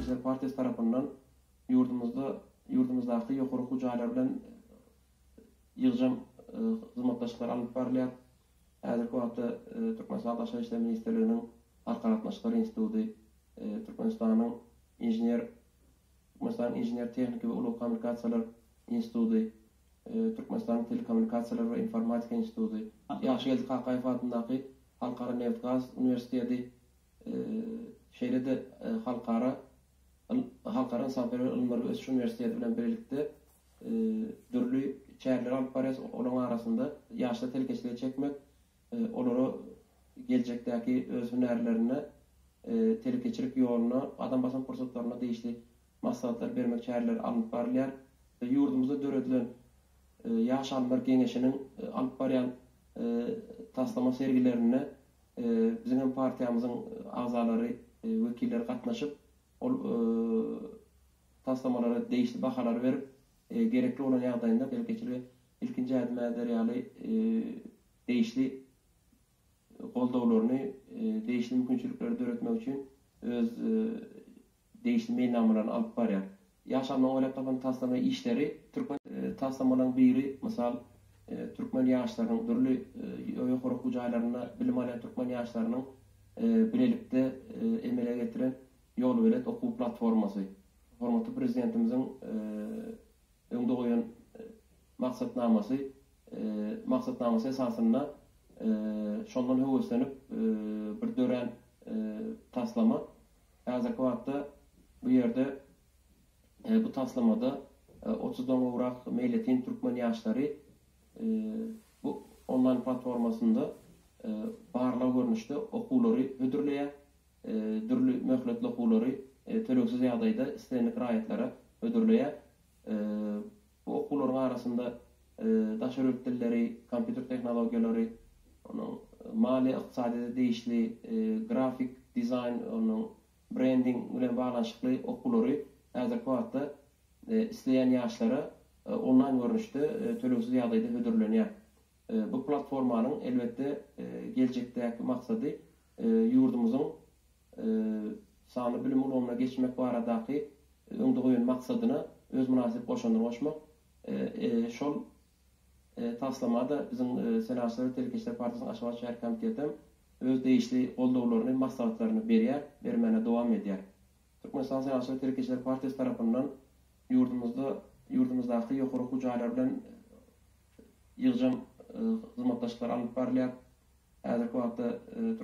Işler partiýasy tarapyndan ýurdumyzda ýurdumyzdaky ýokary okuw jaýlary bilen ýygjam hyzmatdaşlyklar alnyp barylýar. Häzirki wagtda Türkmenistanyň Daşary işler ministrliginiň Halkara gatnaşyklary instituty, Türkmenistanyň Inžener Türkmenistanyň inžener-tehniki we ulag-kommunikasiýalar instituty, Türkmenistanyň Telekommunikasiýalar we informatika instituty, Ýagşygeldi Kakaýew adyndaky Halkara nebit-gaz uniwersiteti, şeýle-de Halkara Halkara ynsanperwer ylymlar we ösüş uniwersiteti bilen bilelikde dürli çäreleri alyp barýarys. Olaryň arasynda ýaşlary telekeçilige çekmek, olary geljekdäki öz hünärlerine, telekeçilik ýoluna gadam basan pursatlaryna degişli maslahatlar bermek çäreleri alnyp barylýar we ýurdumyzda döredilen Ýaş alymlar geňeşiniň alyp barýan taslama sergilerine biziň hem partiýamyzyň agzalary, wekilleri gatnaşyp, ol taslamalara degişli bahalary berip, gerekli bolan ýagdaýynda telekeçilige ilkinji ädim äder ýaly degişli goldawlaryny, degişli mümkinçilikleri döretmek üçin öz degişli meýilnamalaryny alyp barýar. Ýaşamak we Ýatlamak taslama işleri türkmen taslamalaryň biri, mysal, türkmen ýaşlarynyň, dürli ýokary okuw jaýlarynda bilim alýan türkmen ýaşlarynyň bilelikde emele getiren Ýolbelet okuw platformasy. Hormatly Prezidentimiziň öňde goýan maksatnamasy maksatnamasy esasynda şondan höweslenip bir dörän taslama Häzirki wagtda bu ýerde, bu taslamada otuzdan gowrak meýletin türkmen ýaşlary bu onlaýn platformasynda barlag görnüşde okuwlary hödürleýär, dürli möhletli okuwlary tölegsiz ýagdaýda islendik raýatlara hödürleýär. Bu okuwlaryň arasynda daşary ýurt dilleri, kompýuter tehnologiýalary, onuň maliýe ykdysadyýete degişli, grafik dizaýn, onuň brending bilen baglanyşykly okuwlary häzirki wagtda isleýän ýaşlara onlaýn görnüşde tölegsiz ýagdaýda hödürlenýär. Bu platformanyň elbetde geljekdäki maksady ýurdumyzyň sanly bilim ulgamyna geçmek baradaky öňde goýan maksadyna öz mynasyp goşandyny goşmak. Şol taslama-da biziň Senagatçylar we telekeçiler partiýasynyň Aşgabat şäher komiteti hem öz degişli goldawlaryny, maslahatlaryny berýär, bermäne dowam edýär. Türkmenistan Syýasy we telekeçiler partiýasy tarapyndan ýurdumyzda ýurdumyzdaky ýokary okuw jaýlary bilen ýygjam hyzmatdaşlyklar alnyp barylýar. Häzirki wagtda.